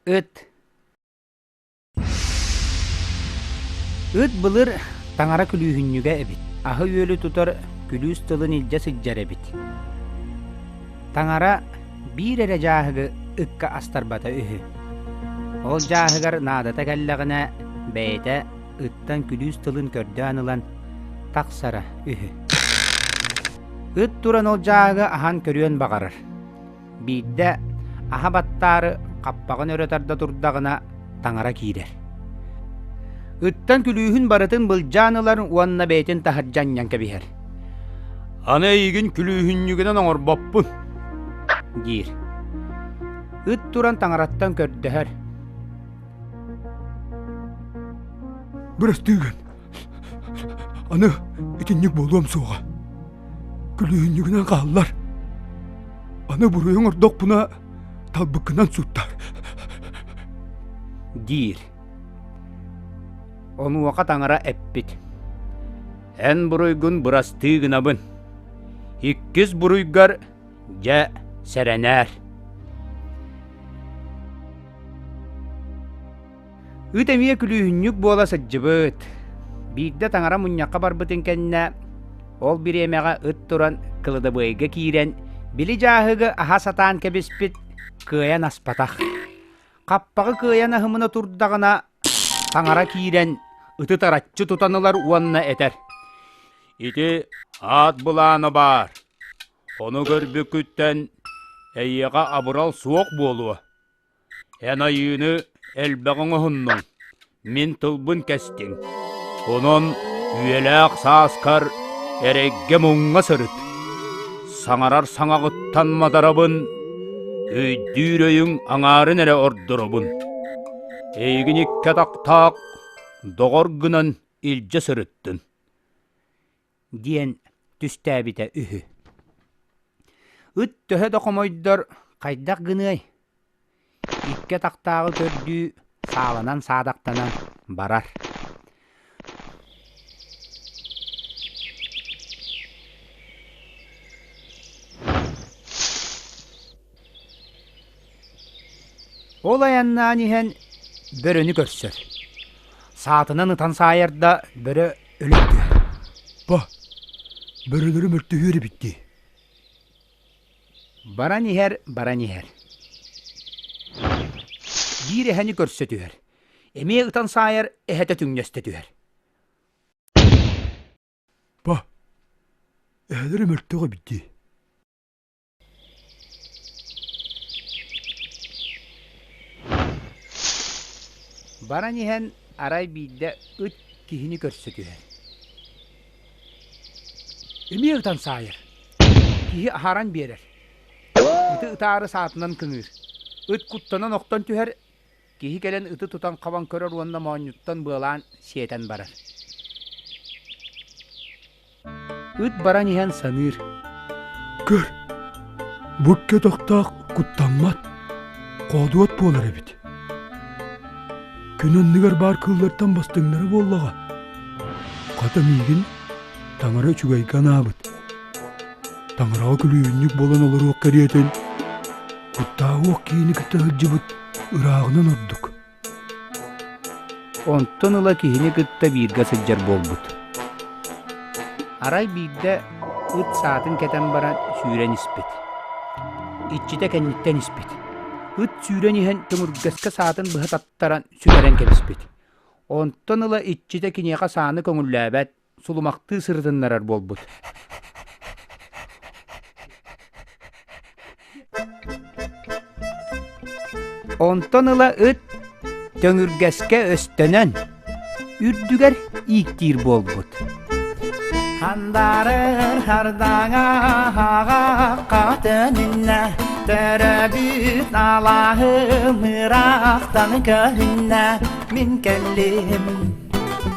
Ыт Ыт былыр таҥара күлүүһүнньүгэ эбит. Аһы-үөлү тутар күлүүс тылын илдьэ сылдьар эбит. Таҥара биир эрэ дьааһыгы ыкка астарбата үһү. Ол дьааһыгар наадата кэллэҕинэ бэйэтэ ыттан күлүүс тылын көрдөөн ылан тахсара үһү. Ыт туран ол дьааһыгы аһан көрүөн баҕарар. Биирдэ аһа баттаары хаппаҕын өрө тарда турдаҕына таҥара киирэр. Ыттан күлүүһүн барытын былдьаан ылар уонна бэйэтин таһырдьа анньан кэбиһэр. Аны эйигин күлүүһүнньүгүнэн оҥорбоппун, диир. Ыт туран таҥараттан көрдөһөр. Бырастыыгын Аны итинник буолуом суоҕа. Күлүүһүнньүгүнэн хааллар. Аны буруйуҥ ордохпуна талбыккынан суттар. диир. Онуоха таҥара эппит. Эн буруйгун бырастыы гынабын. Иккис буруйгар дьэ сэрэнээр. Ыт эмиэ күлүүһүнньүк буола сылдьыбыт. Биирдэ таҥара мунньахха барбытын кэннэ, ол бириэмэҕэ ыт туран кыладабыайга киирэн, били дьааһыгы аһа сатаан кэбиспит, кыайан аспатах. Хаппаҕы кыайан аһымына турдаҕына, таҥара киирэн, ыты тараччы тутан ылар уонна этэр: «Ити аат былаана баар. Ону көрбүккүттэн эйиэхэ абырал суох буолуо». Эн айыыны элбэҕи оҥоһуннуҥ, мин тылбын кэстиҥ, онон үйэлээх сааскар эрэйгэ муҥха сырыт, саҥарар саҥаҕыттан мадарабын, өйдүүр өйүҥ аҥаарын эрэ ордоробун. Эйигин икки атахтаах доҕор гынан илдьэ сырыттын. диэн түстээбитэ үһү. Ыт төһө да хомойдор хайдах гыныай? Икки атахтааҕы көрдүү сааланан саадахтанан барар. Ол айаннаан иһэн бөрөнү көрсөр. Саатынан ытан саайарда бөрө Өлөрдө. Бо, бөрөлөрү мөртөһүөр эбит дии. Баран иһэр, баран иһэр. Биир эһэни көрсө түһэр. Эмиэ ытан саайар эһэтэ түҥнэстэ түһэр. Бо, эһэлэри мөртөҕө эбит дии. Баран иһэн арай биирдэ ыт киһини көрсө түһэр. Эмиэ ытан саайар. Киһи аһаран биэрэр. Ыты ытаары саатынан кыҥыыр. Ыт куттанан охтон түһэр, Киһи кэлэн ыты тутан хабан көрөр уонна моонньуттан быалаан сиэтэн барар. Ыт баран иһэн саныыр. Көр, бу кетохтоох куттаммат, хоодуот буолар эбит. Күн оннугар баар кыыллартан бастыҥнары буоллаҕа. Хата миигин таҥара үчүгэйгэ анаабыт. Таҥараҕа күлүүнньүк буолан олоруох кэриэтин, куттааҕы ох киини кытта сылдьыбыт Ырааҕынан ордук. Онтон ыла киһини кытта бииргэ сылдьар буолбут. Арай биирдэ ыт саатын кэтэн баран сүүрэн испит. Иччитэ кэнниттэн испит. Ыт сүүрэн иһэн көмүргэскэ саатын быһа таттаран сүлэрэн кэбиспит. Онтон ыла иччитэ киниэхэ сааны көҥүллээбэт, сулумахтыы сырытыннарар буолбут онтон ыла ыт төҥүргэскэ өстөнөн үрдүгэр ииктиир буолбут хандарыр хардаҥа хатынынна төрөбүт алаһым ыраахтан көрүннэ мин кэллим